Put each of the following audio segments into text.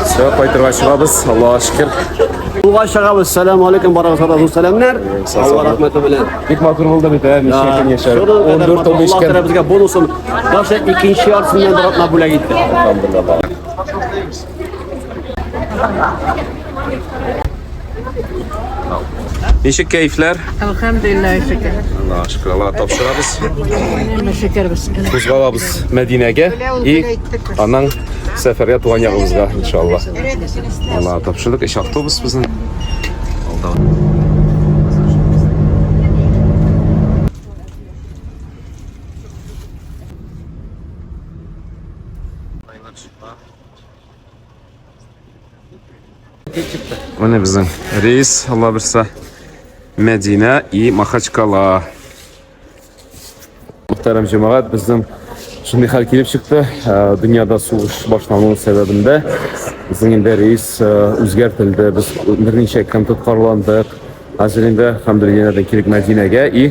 Все, кайтырга чыгабыз, Аллаһ шөкер. Юлга чыгабыз. Сәлам алейкум, барыгызга да зур сәламнәр. Алла рәхмәте белән. Бик матур булды бит, ә, ничә көн яшәр. 14 ел эчкән. Аллаһ безгә бонусын, башы икенче яртысыннан бер атна бүләк итте. Алхамдулилла. Ничек кәйфләр? Әлхәмдулилла шөкер. Аллаһ шөкер, Аллаһ тапшырабыз. Әмма шөкер без. Кузгалабыз Мәдинәгә и аннан сәфәргә туган ягыбызга иншаллаһ. Аллаһ тапшырдык, эш автобус безнең. Алда. Менә безнең рейс, Алла берсә. Мәдинә и Махачкала. Мөхтәрәм җәмәгать, безнең шундый хәл килеп чыкты. Э, дөньяда сугыш башлану сәбәбендә безнең инде рейс э, үзгәртелде. Без берничә көн тоткарландык. Хәзер инде, хәмдулилләһ, килик Мәдинәгә и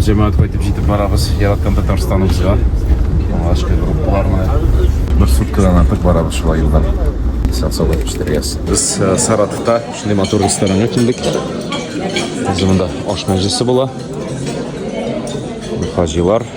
Җәмәгать кайтып җитеп барабыз, яраткан Татарстаныбызга. Алгачкы группалар менә. Бер суткадан артык барабыз шулай юлда. Сансалап пештерәбез. Без э, Саратовта шундый матур ресторанга килдек. Бездә монда аш мәҗлесе була. Хаҗилар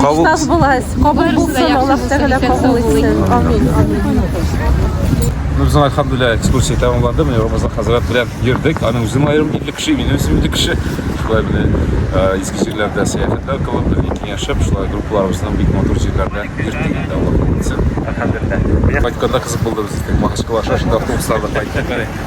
Кабул. Кабул булсын, Аллаһ Тәгалә кабул итсен. Амин. Ну, безнең альхамдулилля экскурсия тәмамланды. Менә Рамазан хәзрәт белән йөрдек. Аның үзенең аерым ирле кеше, мин үзем ирле кеше. Шулай менә э, изге җирләрдә сәяхәтләр кылып, бергә киңәшеп, шулай группаларыбызның бик матур җирләрдә йөрдек инде Аллаһ кабул итсен. Альхамдулилля. Кайтканда кызык булды безгә. Махачкала шашында автобусларда кайттык.